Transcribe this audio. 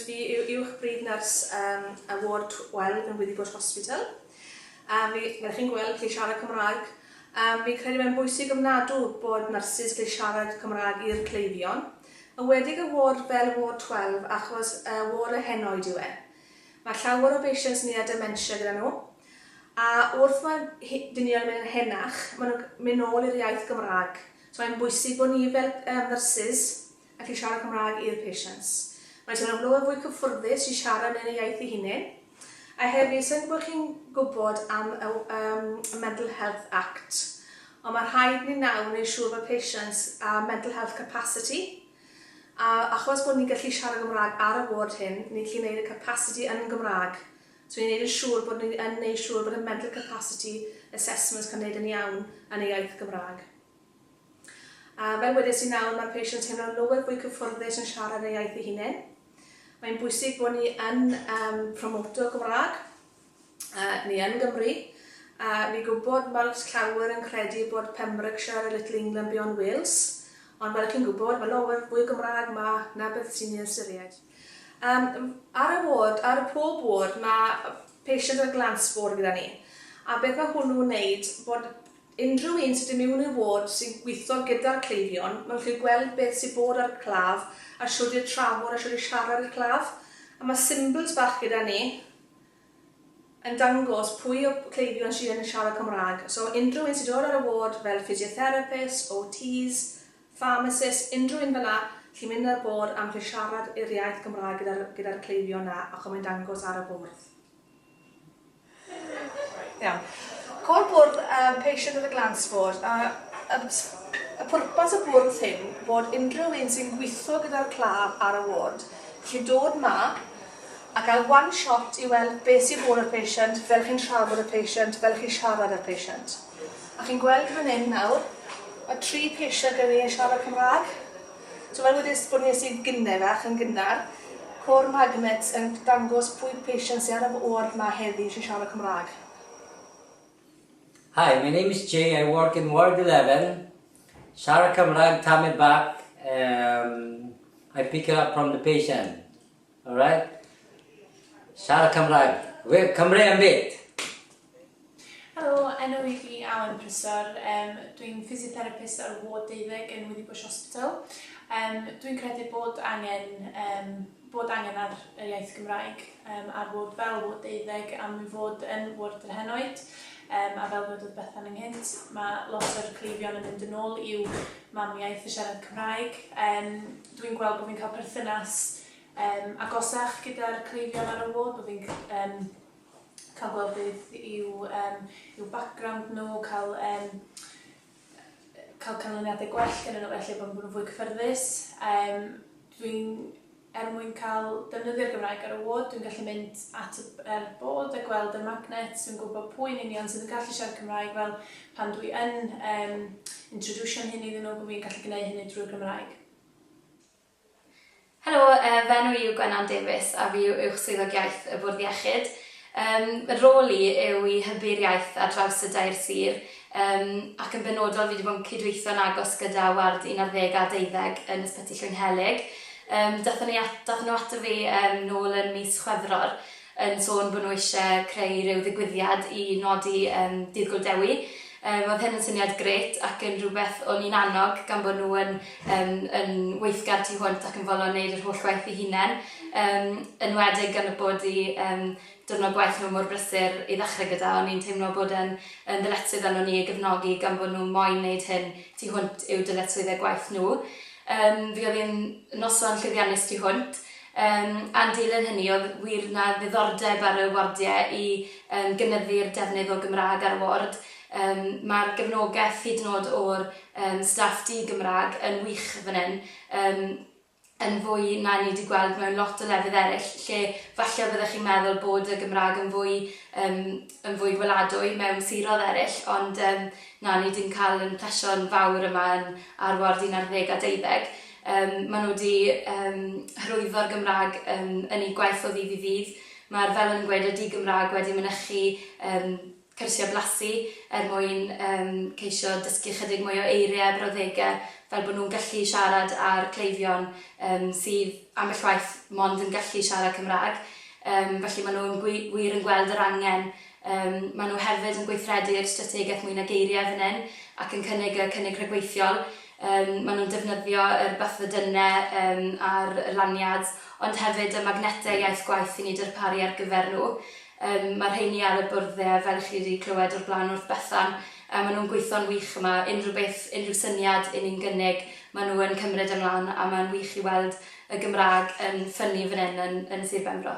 Dwi yw uwch bryd nyrs yn y ward Wel yn Withybush Hospital. A fi, fel chi'n gweld, gallu siarad Cymraeg. A fi credu mae'n bwysig ofnadw bod nyrsys gallu siarad Cymraeg i'r cleifion. Yn wedig y ward fel ward 12 achos y ward y henoed yw e. Mae llawer o beisients ni a dementia gyda nhw. A wrth mae hi, dynion yn mynd yn henach, mae nhw'n mynd nôl i'r iaith Gymraeg. So mae'n bwysig bod ni fel um, nyrsys ac i siarad Cymraeg i'r patients. Maent yn amlwg yn fwy cyffyrddus i siarad yn eu iaith eu hunain. A hefyd, sa i'n gwybod chi'n gwybod am y um, Mental Health Act, ond mae rhaid ni nawr wneud siŵr bod patients a mental health capacity, a achos bod ni'n gallu siarad Gymraeg ar y ward hyn, ni'n gallu gwneud y capacity yn Gymraeg. So ni'n gwneud yn siŵr bod ni'n gwneud siŵr bod y mental capacity assessments cael gwneud yn iawn yn ei iaith Gymraeg. A fel wedes i nawr, mae'r Peisia'n teimlo'n loer fwy cyffyrddus yn siarad ei iaith ei hunen. Mae'n bwysig bod ni yn um, promoto Gymraeg, uh, ni yn Gymru, a uh, fi gwybod mae lot llawer yn credu bod Pembrokeshire a Little England beyond Wales, ond fel chi'n gwybod, mae loer fwy Gymraeg ma na beth sy'n ei ystyried. Um, ar y ward, ar y pob ward, mae patient yn y glanspor gyda ni. A beth mae hwnnw'n wneud bod Unrhyw un sydd yn mewn i'r ward sy'n gweithio gyda'r cleifion, mae'n gallu gweld beth sydd bod ar y claf a shwd i'r trafod a shwd i siarad i'r claf. A mae symbyls bach gyda ni yn dangos pwy o cleifion sydd yn siarad Cymraeg. So unrhyw un sy'n dod ar y ward fel physiotherapists, OTs, pharmacists, unrhyw un fel'na, chi'n mynd ar bord a mae'n gallu siarad i'r iaith Gymraeg gyda'r gyda'r cleifion 'na ac mae'n dangos ar y bwrdd. Iawn. Col bwrdd um, patient of the gland sport. A, a, y pwrpas y bwrdd hyn bod unrhyw un sy'n gweithio gyda'r claf ar y ward chi'n dod ma a cael one shot i weld beth sy'n bod y patient, fel chi'n trafod y patient, fel chi'n siarad y patient. A chi'n gweld fan hyn nawr, mae tri patient gen i yn siarad Cymraeg. Cyfarwyddys bod Iesu gyne fach yn gynnar. Co'r magnets yn dangos pwy patient sy ar y ward ma heddi sy'n siarad Cymraeg. Hi, my name is Jay, I work in ward eleven, siarad Cymraeg tamaid bach, um, I pick it up from the patient, alright? Siarad Cymraeg, we Cymru am byd! Helo, enw i fi Awen Prysor, um, dwi'n physiotherapist ar ward deuddeg yn Withybush Hospital. Um, dwi'n credu bod angen, um, bod angen ar yr iaith Gymraeg um, ar ward fel ward deuddeg am i fod yn ward yr henoed. Um, a fel dwedodd Bethan ynghynt, mae lot o'r cleifion yn mynd yn ôl i'w mamiaeth y siarad Cymraeg. Um, dwi'n gweld bod fi'n cael perthynas um, agosach gyda'r cleifion ar y ward, bod fi'n um, cael gweld beth yw yym yw background nhw, cael yym cael canlyniadau gwell gyda nhw felly bod nhw'n fwy cyffyrddus. Um, dwi'n er mwyn cael defnyddio'r Gymraeg ar y ward, dwi'n gallu mynd at y er bod a gweld y magnet sy'n gwybod pwy yn union sydd yn gallu siarad Cymraeg fel pan dwi yn um, introducio'n hyn iddyn nhw bod fi'n gallu gwneud hynny drwy'r Gymraeg. Helo, fy enw i yw Gwenan Davies a fi yw Uwch Swyddog Iaith y Bwrdd Iechyd. Fy rôl i yw i hybu'r iaith ar draws y dair sir ac yn benodol fi wedi bod yn cydweithio'n agos gyda ward 11 a 12 yn Ysbyty Llwynhelyg. Daethon nhw ato fi nôl yn mis Chwefror yn sôn bod nhw eisiau creu rhyw ddigwyddiad i nodi yym Dydd Gŵyl Dewi. Yym oedd hyn yn syniad grêt ac yn rhywbeth o'n i'n annog gan bod nhw yn yym yn weithgar tu hwnt ac yn fodlon wneud yr holl waith eu hunain. Yym yn enwedig gan y bod eu yym diwrnod gwaith nhw mor brysur i ddechrau gyda, o'n i'n teimlo bod e'n yn ddyletswydd arnon ni eu gefnogi gan bod nhw moyn wneud hyn tu hwnt i'w dyletswyddau gwaith nhw. Yym fe oedd hi'n noson llwyddiannus tu hwnt. Yn dilyn hynny, oedd wir 'na ddiddordeb ar y wardiau i gynyddu'r defnydd o Gymraeg ar y ward. Mae'r gefnogaeth hyd yn oed o'r staff di-Gymraeg yn wych fan hyn, yn fwy na ni 'di gweld mewn lot o lefydd eraill lle falle fyddech chi'n meddwl bod y Gymraeg yn fwy yn fwy gweladwy mewn siroedd eraill, ond na, ni 'di cael ein plesio'n fawr yma yn ar ward un ar ddeg a deuddeg. Yym, maen nhw wedi yym hyrwyddo'r Gymraeg yym yn eu gwaith o ddydd i ddydd. Mae'r Felin yn gweud ydy Gymraeg wedi mynychu yym cyrsiau blasu er mwyn yym ceisio dysgu ychydig mwy o eiriau a brawddegau fel bod nhw'n gallu siarad â'r cleifion yym sydd ambell waith mond yn gallu siarad Cymraeg. Yym, felly maen nhw yn gwi- wir yn gweld yr angen. Yym, maen nhw hefyd yn gweithredu ar y strategaeth 'Mwy na Geiriau' fan hyn ac yn cynnig y cynnig rhagweithiol. Yym, maen nhw'n defnyddio yr bathodynnau yym a'r lanyards, ond hefyd y magnetau iaith gwaith i ni darparu ar gyfer nhw. Yym, mae'r rheiny ar y bwrdde, fel chi 'di clywed o'r blaen wrth Bethan, a maen nhw'n gweithio'n wych yma. Unrhyw beth, unrhyw syniad i ni'n gynnig, maen nhw yn cymryd e mlaen, a mae'n wych i weld y Gymraeg yn ffynnu fan hyn yn yn Sir Benfro.